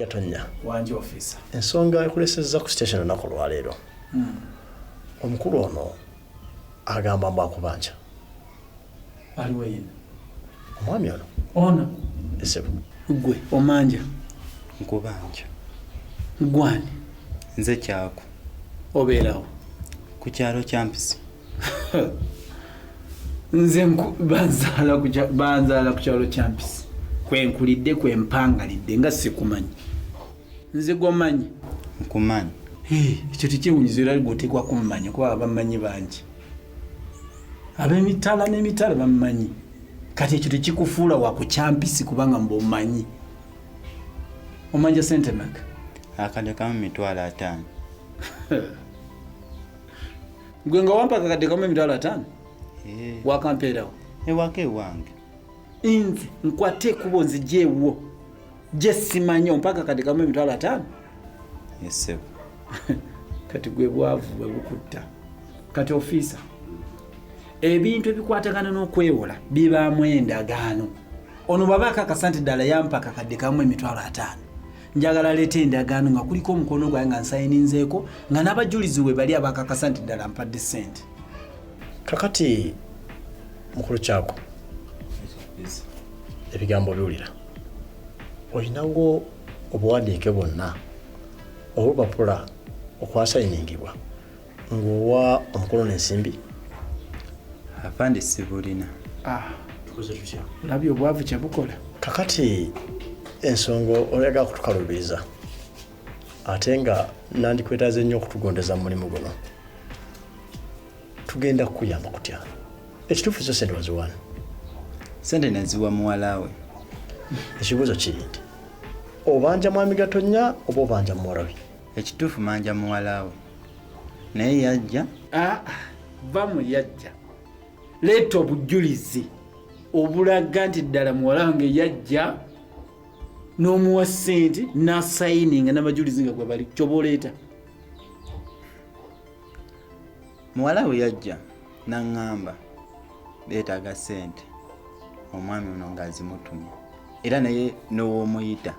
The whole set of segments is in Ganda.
Gatonya wanje ofisa ensonga ekulesezza ku station olunaku lwaleero hmm. omukulu ono agamba mbu akubanja aliwo yena omwami ono ono esebo gwe omanja nkubanja gwani nze kyaku obeerawo ku kyalo kyampisi nze banzaala ku kyalo kyampisi kwenkulidde kwempangalidde nga sikumanyi nze gwomanyi nkumanyi ekyo tekyewunyiza era gwoteekwa kumumanya kuba abamanyi bangi abemitala nemitala bamumanyi kati ekyo tekikufuula wakukyampisi kubanga mba omanyi omanja sente maka akade kamu mitwalo ataano gwe nga wampa akakadde kamu emitwalo ataano eh. wakampeerawo ewaka eh, ewange nze nkwate ekubo nzija ewuwo gye simanyi ompaka kati kamu emitwalo ataano yesebo kati gwe bwavu bwe bukutta kati ofiisa ebintu ebikwatagana n'okwewola bibaamu endagaano ono bwaba akakasa nti ddala yampa kakadde kamu emitwalo ataano njagala aleeta endagaano nga kuliko omukono gwaye nga nsayininzeeko nga n'abajulizi we bali abakakasa nti ddala mpadde ssente kakati mukulu kyako ebigambo biwulira olinawo obuwandiike bwonna obupapula okwasayiningibwa ng'owa omukulu n'ensimbi afande sibulina ah. labye obwavu kyebukola kakati ensonga oyaga kutukalubiriza ate nga nandikwetaze nnyo okutugondeza mu mulimu guno tugenda kukuyamba kutya ekituufu zo sente waziwano sente naziwa muwalawe ekibuuzo kiri nti obanja mwami gatonya oba obanja muwarabi ekituufu manja muwalawe naye yajja ah, va mu yajja leeta obujulizi obulaga nti ddala muwala wange yajja n'omuwa ssente n'asayininga n'abajulizi nga gwe bali kyoba oleeta muwala bwe yajja n'aŋŋamba beetaaga ssente omwami ono ng'azimutumye era naye n'ow'omuyita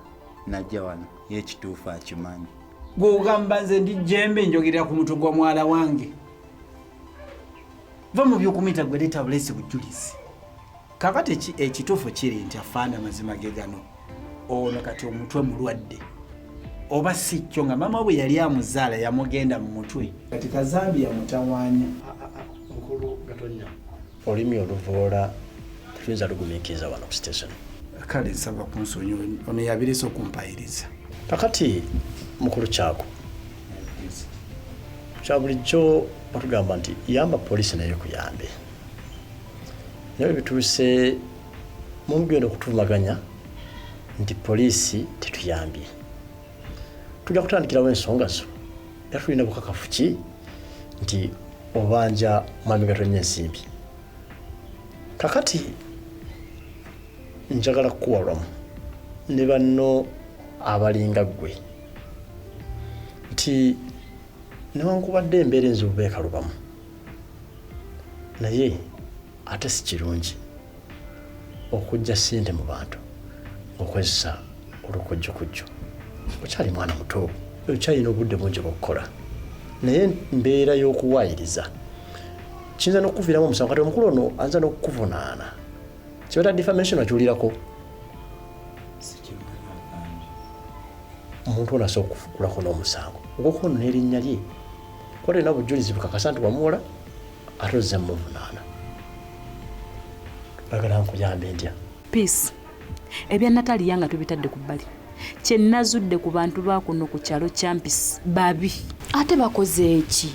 najja wano ye ekituufu akimanyi gwe ogamba nze ndi jembe njogerera ku mutwe gwa mwala wange va mu byokumuyita gwe leeta buleesi bujulizi kakati ekituufu kiri nti afaana amazima ge gano ono kati omutwe mulwadde oba si kyo nga maama bwe yali amuzaala yamugenda mu mutwe kati kazambi yamutawanya olulimi oluvoola tetuyinza lugumikiriza wano ku station kale nsaba kunsonyi ono yabiresa okumpayiriza kakati mukulu kyako kyabulijjo batugamba nti yamba poliisi naye kuyambe naye bituuse mumugenda okutuvumaganya nti poliisi tetuyambye tujja kutandikirawo ensonga zo era tulina bukakafu ki nti obanja mwami gatonnya ensimbi kakati njagala kukuwalwamu ne banno abalinga ggwe nti newankubadde embeera enzibu beekalubamu naye ate si kirungi okujja ssente mu bantu okozesa olukujjukujju okyali mwana muto okyalina obudde bungi bwokukola naye mbeera y'okuwaayiriza kiyinza n'okukuviiramu omusango kati omukulu ono ayinza n'okukuvunaana kibata defamation akiwulirako omuntu ono asobola okukulako n'omusango ogwokuba ono n'erinnya lye Kuba tolina bujulizi bukakasa nti wamuwola ate ozze muvunaana. Bagala nkuyambe ntya? Peace. Ebya Natalia nga tubitadde ku bbali. Kye nazudde ku bantu ba kuno ku kyalo Champis babi. Ate bakoze eki?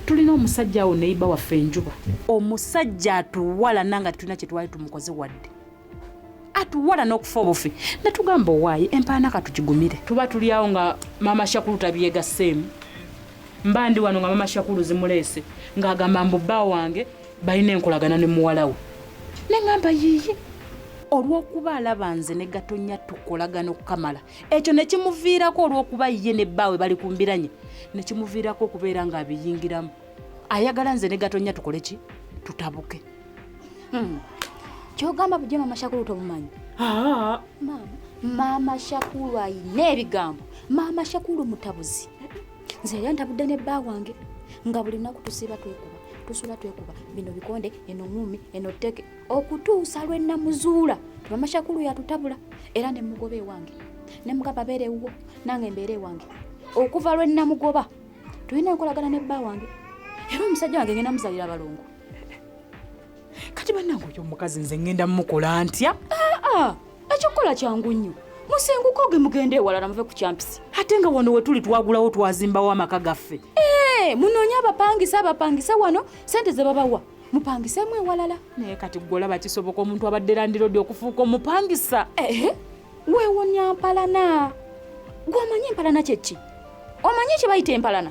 Tulina omusajja awo neyiba waffe enjuba. Omusajja atuwala nanga tulina kye twali tumukoze wadde. atuwala n'okufa obufi netugamba owaayi empaana katugigumire tuba tuli awo nga maama shakulu tabyegaseemu mba ndi wano nga maama shakulu zimuleese ng'agamba mbu bba wange balina enkolagana ne muwala we ne ngamba yiiyi olw'okuba alaba nze ne gatonya tukolagana okukamala ekyo ne kimuviirako olw'okuba ye ne bbaawe bali ku mbiranye ne kimuviirako okubeera ng'abiyingiramu ayagala nze ne gatonya tukole ki tutabuke Hmm. Kyogamba bujja mama Shakulu tomumanyi? Ah. Mama, mama Shakulu ayina ebigambo. Mama Shakulu mutabuzi. Nze yali antabudde ne bba wange nga buli lunaku tusiiba twekuba tusula twekuba bino bikonde eno ngumi eno teke okutuusa lwe namuzuula mama Shakulu yatutabula era ne mugoba ewange ne mugaba beera ewuwo nange mbeera ewange okuva lwe namugoba tulina enkolagana ne bba wange era omusajja wange ngenda muzalira balongo kati banange oyo omukazi nze ngenda mukola ntya ah, ah, ekyokukola kyangu nnyo musenguko ge mugenda ewalala muve ku kyampisi ate nga wano wetuli twagulawo twazimbawo amaka gaffe eh, munoonye abapangisa abapangisa wano sente ze babawa mupangisemu ewalala naye kati gwe olaba kisoboka omuntu abadde landirodi okufuuka omupangisa eh, weewonya mpalana gwe omanyi empalana kyekki omanyi kye bayita empalana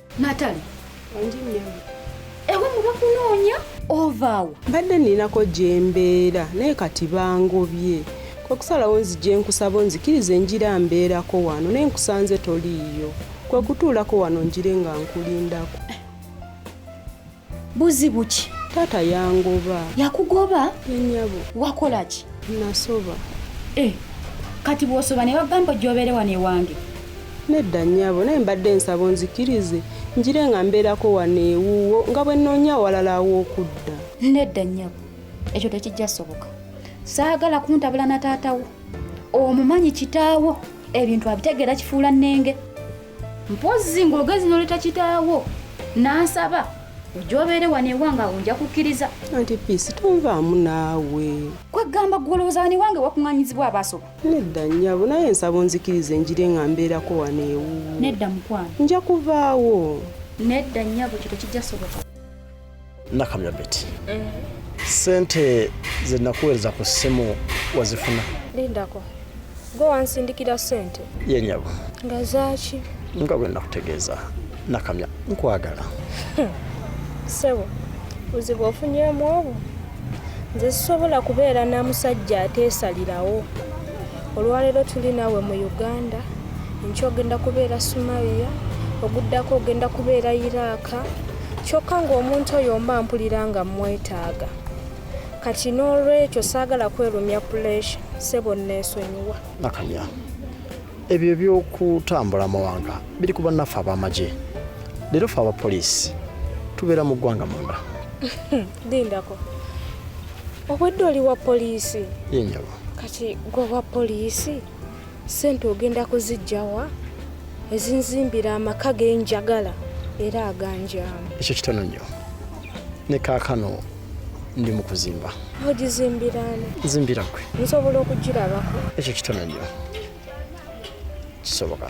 Natali. Wangi nnyabo. Ewe mubakunoonya? Ovaawo. Mbadde ninako gyembeera naye kati bangobye. Kwe kusalawo nzije nkusaba onzikirize njira mbeerako wano naye nkusanze toliiyo. Kwe kutuulako wano njire nga nkulindako. Buzibu ki? Taata yangoba. Yakugoba? Yenyabo. Wakola ki? Nasoba. Eh, kati bwosoba ne bagamba gyobere wano ewange. Nedda nyabo, naye mbadde nsaba onzikirize njire nga mbeerako wano ewuwo nga bwe nnoonya awalala aw'okudda. Nedda nyabo, ekyo tekijja soboka. Saagala kuntabula na taata wo. Omumanyi kitaawo ebintu abitegeera kifuula nnenge. mpozzi ng'ogezi noleta kitaawo nansaba ojja obeere wano ewange awo nja kukkiriza anti piisi tonvaamu naawe kwegamba gwolowooza wano ewange wakuŋanyizibwa abaasoba nedda nyabo naye ensaba onzikiriza enjire nga mbeerako wano ewuwo nedda mukwano nja kuvaawo nedda nyabo kyo tekijja soboka nakamya beti mm. sente zenakuweereza ku ssimu wazifuna lindako gwe wansindikira sente yenyabo nga zaaki nga bwe nakutegeeza nakamya nkwagala hmm. sebo buzibu ofunyemu obwo nze sisobola kubeera na musajja ateesalirawo olwaleero tuli naawe mu uganda enkya ogenda kubeera sumariya oguddako ogenda kubeera iraaka kyokka ng'omuntu oyo mba mpulira nga mmwetaaga kati n'olwekyo saagala kwerumya puleesha sebo nneesonyiwa nakanya ebyo eby'okutambula amawanga biri ku bannaffe ab'amagye leero fe abapoliisi tubeera mu ggwanga munda lindako obwedde oli wa poliisi yenyabo kati gwe wa poliisi Ssente ogenda kuziggya wa ezinzimbira amaka ge njagala era aganjaamu? Ekyo kitono nnyo. Ne kaakano ndi mu kuzimba. Ogizimbira ani? Nzimbira ggwe. Nsobola okugirabako? Ekyo kitono nnyo. Kisoboka.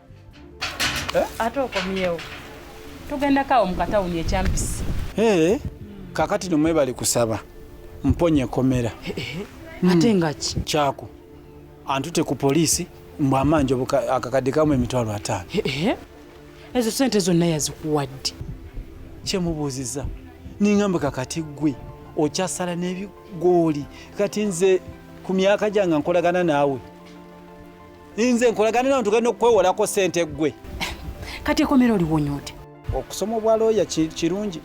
Eh? ate okomyewo tugenda kawo mukatawuni ekyampisi eh, kakati no mwebali kusaba mponye komera eh, ate hmm. ngaki kyako antute ku poliisi mbu amanja akakadde kamu emitwalo ataano ezo sente zonna yazikuwadde kyemubuuziza ningamba kakati gwe okyasala n'ebigooli kati nze ku myaka gyange nkolagana naawe nze nkolagana nawe tugenda okukwewolako sente ggwe kati ekomera oliwonyoote okusoma obwa looya kirungi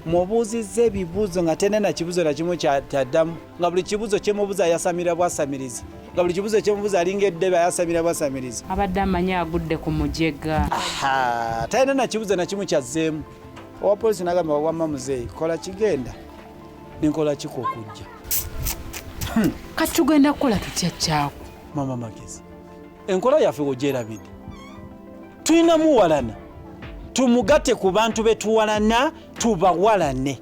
mubuuzizza ebibuuzo nga tenena kibuuzo nakimu kyaddamu nga buli kibuuzo kyemubuuza yasamira bwasamirizi nga buli kibuuzo kyemubuuza alinga eddebe ayasamira bwasamirizi abadde amanyi agudde ku mujega talina nakibuuzo nakimu kyazzeemu owa polisi nagamba wamma muzeeyi kola kigenda nenkola kiko okujja hmm. kati tugenda kukola tutya kyako mama magezi enkola yaffe wogyerabidde tulina muwalana tumugatte ku bantu betuwalana tubawalane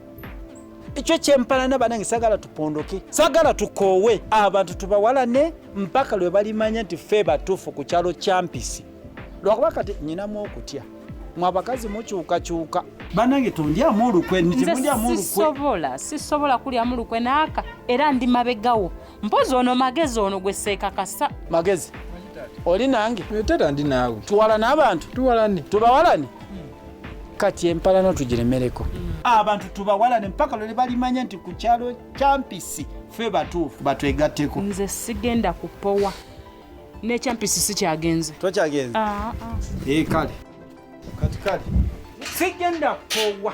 ekyo kyempalana banange sagala tupondoke sagala tukoowe abantu tubawalane mpaka lwe balimanya nti fe batuufu ku kyalo kyampisi lwakuba kati nyinamu okutya mwe abakazi mukyukakyuka banange tondyamu olukwe nze sisobola sisobola kulyamu lukwe naaka era ndi mabegawo mpozi ono magezi ono gwe seekakasa magezi oli nange eh, tata ndi naawe tuwalane abantu tuwalane tubawalane kati empalano tugiremereko abantu tubawalane mpaka lwele balimanya nti ku kyalo kyampisi fe batuufu batwegatteko nze sigenda kupowa nekyampisi sikyagenze tokyagenze ah, ah. Eh, kale kati kale sigenda kupowa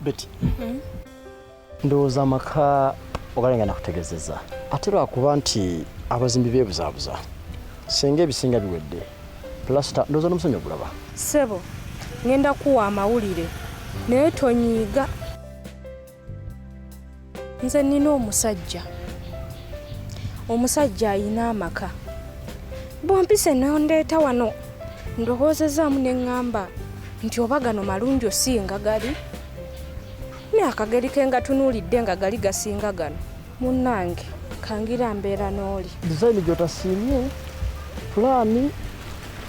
Betty. Mm-hmm. Ndowooza amaka ogalenga nakutegezeza ate lwakuba nti abazimbi bebuzabuza senga ebisinga biwedde plasita ndowooza n'omusonyi ogulaba sebo ngenda kuwa amawulire naye tonyiiga nze nina omusajja omusajja ayina amaka bwompise nondeeta wano ndowoozezaamu ne ŋŋamba nti oba gano malungi osinga gali ne akageri ke nga tunuulidde nga gali gasinga gano munnange kangira mbeera n'oli dizayini gy'otasiimye pulaani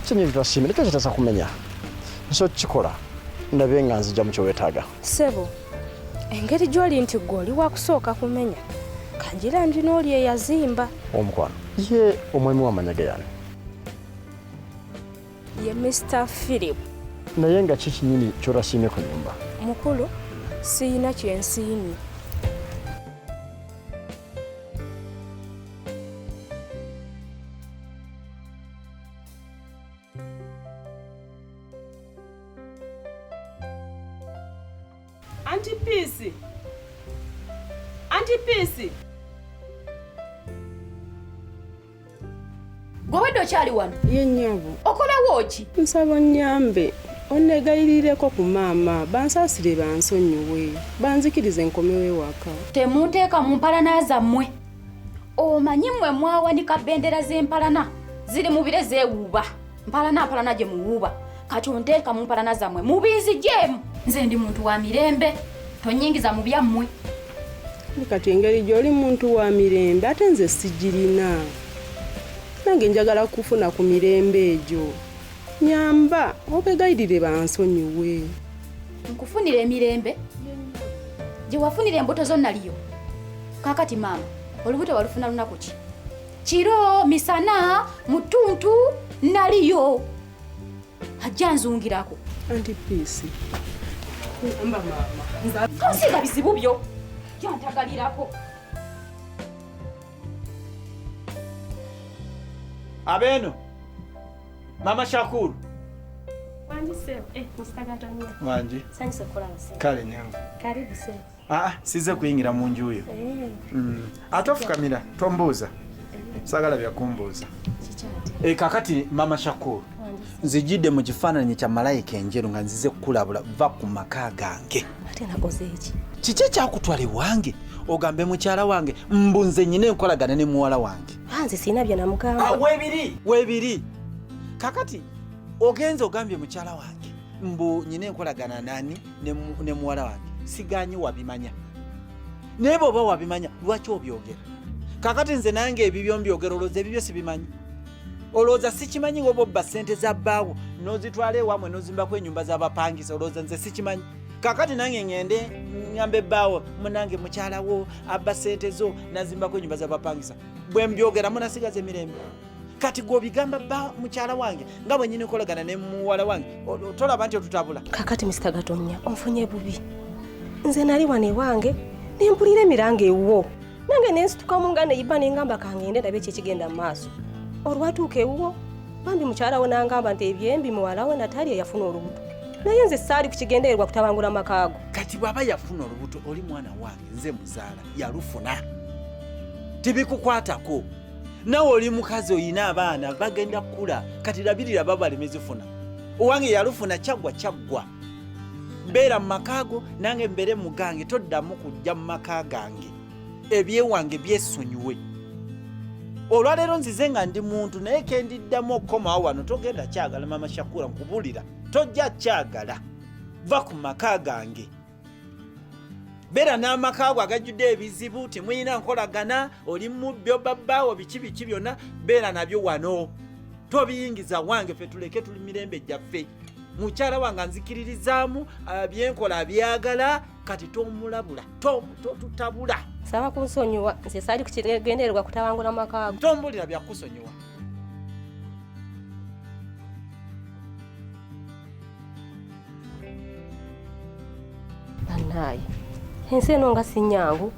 kinyi gy'otasiimye nikyo kitaza kumenya nsi okukikola ndabe nga nzija mu kye weetaaga Sebo, engeri gy'oli nti gwe oli wakusooka kumenya kagira ndi n'oli eyazimba omukwano ye omwami wamanya geyani ye mr philip naye nga ki kinyini kyotasiimye ku nyumba mukulu siyina kyensiimye Anti Peace. Anti Peace. Gwe wedde okyali wano? Ye nnyabo. Okolawo ki? Nsaba onnyambe onneegayirireko ku maama bansaasire bansonyiwe banzikirize nkomewo ewaka. Temunteeka mu mpalana zammwe. omanyi mwe mwawanika bendera z'empalana ziri mu bire zeewuuba mpalana mpalana gye muwuuba kati onteeka mu mpalana zammwe mubiizi gyemu nze ndi muntu wa mirembe tonyingiza mu byammwe kati engeri gy'oli muntu wa mirembe ate nze sigirina nange njagala kufuna ku mirembe egyo nyamba obegayirire bansonyiwe nkufunira emirembe gye wafunira embuto zo naliyo kakati maama olubuto walufuna lunaku ki kiro misana mutuntu naliyo ajja nzungirako anti piisi kuyamba maama tosiga bizibu byo jantagalirako abeeno Mama Shakuru. Wanji sir. Eh, Mr. Gatania. Wanji. Sanyi sokola sir. Kale nyangu. Karibu sir. Ah, ah size kuyingira mu nju yo. Eh. Mm. Atofukamira tombuuza. Eh. Sagala bya kumbuuza. Kichati. Eh, kakati Mama Shakuru. nzijidde mu kifaananyi kya malayika enjeru nga nzize kukulabula va ku maka gange kiki ekyakutwala ewange ogambe mukyala wange mbu nze nyina enkolagana ne muwala wange anze sirina bye namugamba ah, webiri webiri kakati ogenze ogambye mukyala wange mbu nyina enkolagana nani ne muwala wange siganye wabimanya naye bwoba wabimanya lwaki obyogera kakati nze nange ebibyo mbyogera olowooza ebibyo sibimanyi olowooza sikimanyi woba obba sente za bbaawo nozitwala ewamwe nozimbako enyumba zabapangisa olowooza nze sikimanyi kakati nange ngende ngamba ebbaawo munange mukyalawo abba sente zo nazimbako enyumba zabapangisa bwe mbyogera munasigaza emirembe kati gwobigamba ba mukyala wange nga bwenyini okolagana ne muwala wange tolaba nti otutabula kakati misita gatonya onfunye bubi nze nali wano ewange nempulira emiranga ewuwo nange nensitukamu nga neyiba nengamba kangende ndabe ekyekigenda mu maaso olwatuuka ewuwo bambi mukyala we nangamba nti ebyembi muwala we nataali eyafuna olubuto naye nze saali ku kigendererwa kutabangula amakaago kati bw'aba yafuna olubuto oli mwana wange nze muzaala yalufuna tebikukwatako nawe oli mukazi olina abaana bagenda kukula kati labirira babalemezifuna owange yalufuna kyaggwa kyaggwa beera mu maka go nange mbeere mu gange toddamu kujja mu maka gange ebyewange byesonyiwe olwaleero nzize nga ndi muntu naye kendiddamu okukomawo wano togenda kyagala mama shakura nkubulira tojja kyagala va ku maka gange beera n'amaka go agajjudde ebizibu temulina nkolagana oli mubyo babbaawo biki biki byonna beera nabyo wano tobiyingiza wange fe tuleke tuli mirembe gyaffe mukyala wange anzikiririzaamu uh, byenkola abyagala kati tomulabula totutabula saba kunsonyiwa nze saali kukigendererwa kutabangula maka ago tombulira byakusonyiwa banaye ensi eno nga sinyangu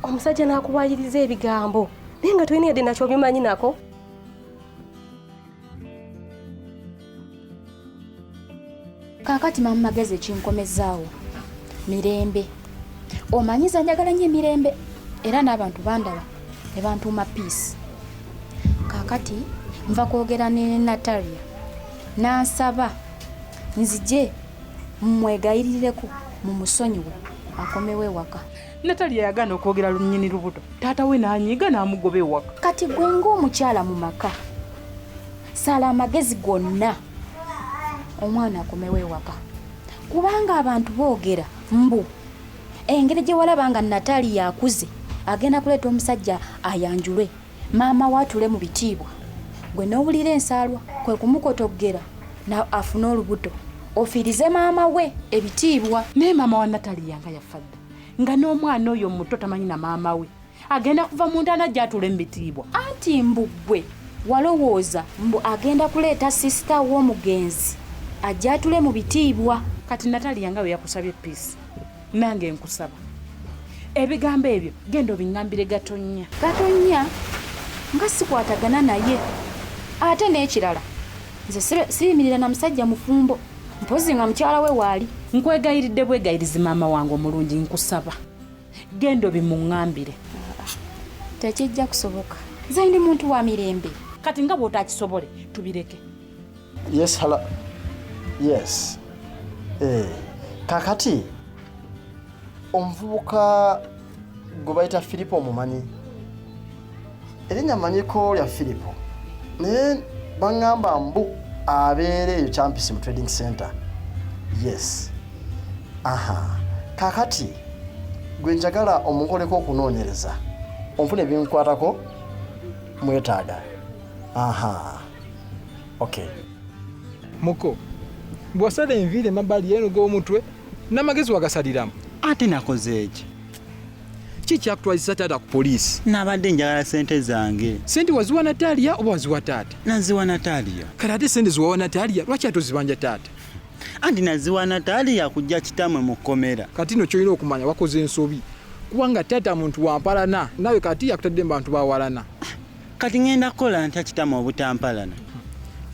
omusajja nakubayiriza ebigambo naye nga tolina yadde nakyo obimanyi nako kaakati mamu magezi ekinkomezaawo mirembe omanyiza njagala nyo emirembe era n'abantu bandaba ne bantuuma peace kaakati nva kwogera ne natalia nansaba nzije mmwegayirireko mu musonyiwe akomewo ewaka Natalia yagaana okwogera lunyini lubuto taata we n'anyiiga n'amugoba ewaka. Kati gwe ng'omukyala mu maka sala amagezi gonna omwana akomewo ewaka kubanga abantu boogera mbu engeri gye walaba nga Natalia akuze agenda kuleeta omusajja ayanjulwe maama waatule mu bitiibwa gwe n'owulira ensaalwa kwe kumukotoggera afune olubuto ofiirize maama we ebitiibwa naye maama wa Natalia nga yafadde nga n'omwana oyo muto tamanyi na maama we agenda kuva mu ntaana gyatuula emitiibwa anti mbuggwe walowooza mbu agenda kuleeta sisita w'omugenzi ajjatule mu bitiibwa kati nataliya nga bwe yakusabye piisi nange nkusaba ebigambo ebyo genda obingambire gatonya gatonya nga sikwatagana naye ate n'ekirala nze siyimirira na musajja mufumbo mpozi nga mukyala we waali nkwegayiridde bwegayirizi maama wange omulungi nkusaba genda obimuŋambire tekijja kusoboka nze ndi muntu wa mirembe kati nga bwotakisobole tubireke yes hala yes eh, kakati omuvubuka gwe bayita firipo omumanyi erinnya manyiko lya firipo naye baŋŋamba mbu abeera eyo campisi mu trading center yes aha kakati gwe njagala omukoleko okunoonyereza onfuna ebinkwatako mwetaaga aha okay muko bwosala enviiri emabbali yenuga omutwe n'amagezi wagasaliramu ate nakoze eki ki kyakutwazisa taata ku poliisi nabadde njagala sente zange sente waziwa natalia oba waziwa taata naziwa natalia kale ate sente ziwawa natalia lwaki atozibanja taata anti naziwa natalia kujja kitamwe mu kkomera kati no kyolina okumanya wakoze ensobi kubanga taata muntu wampalana nawe kati yakutadde mu bantu bawalana kati ngenda kukola ntya kitama obutampalana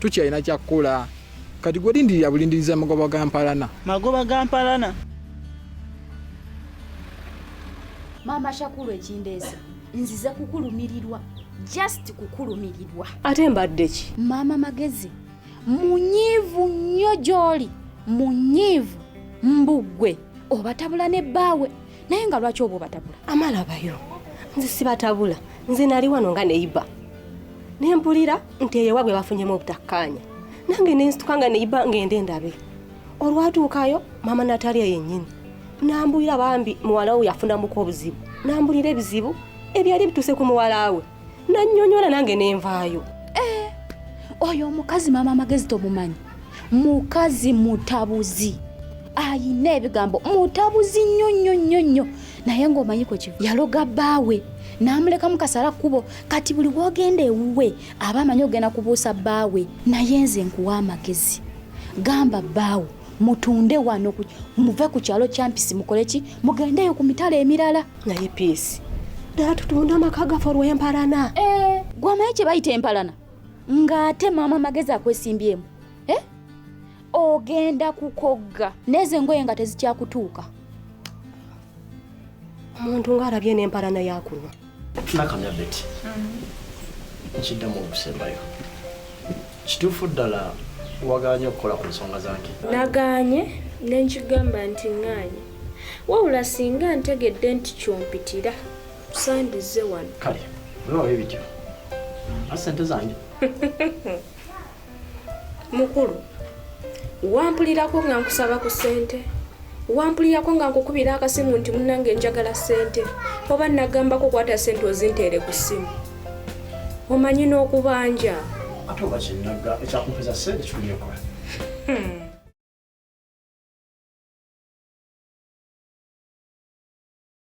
tukyalina kyakukola kati gwe lindirira bulindiriza magoba ga mpalana magoba ga mpalana maama shakulu ekindeesa nzize kukulumirirwa just kukulumirirwa ate mbadde ki maama magezi munyiivu nnyo gy'oli munyiivu mbuggwe obatabula ne bbaawe naye nga lwaki oba obatabula amalabayo nze sibatabula nze nali wano nga neyiba ne mpulira nti eyo wabwe bafunyemu obutakkaanya nange nensituka nga neyiba ngende ndabe olwatuukayo maama nataliya yennyini nambulira bambi muwala we yafunamuko obuzibu nambulira ebizibu ebyali bituuse ku muwala we nanyonyola nange nenvaayo eh, oyo omukazi maama amagezi tomumanyi mukazi mutabuzi ayina ebigambo mutabuzi nnyo nnyo nnyo nnyo naye ng'omanyiko ki yaloga bbaawe n'amulekamu kasala kkubo kati buli wogenda ewuwe aba amanyi ogenda kubuusa bbaawe naye nze nkuwa amagezi gamba bbaawo mutunde wano muve ku kyalo kyampisi mukole ki mugendeyo ku mitala emirala naye piisi ddala tutunda amaka gaffe olw'empalana eh. gwamaye kye bayita empalana ng'ate maama magezi akwesimbyemu eh? ogenda kukogga neezo engoye nga tezikyakutuuka omuntu ng'alabye n'empalana yakuno nakamya beti mm. nkiddamu okusembayo Kituufu ddala wagaanye okukola ku nsonga zange? Nagaanye ne nkigamba nti ŋŋaanye. Wabula singa ntegedde nti ky'ompitira tusandizze wano. Kale olaba bwe bityo a ssente zange. Mukulu wampulirako nga nkusaba ku ssente? wampulirako nga nkukubira akasimu nti munange njagala sente oba nagambako kwata sente ozinteere ku simu omanyi n'okubanja ate oba kyenaga ekyakumpeza sente kikulyekula hmm.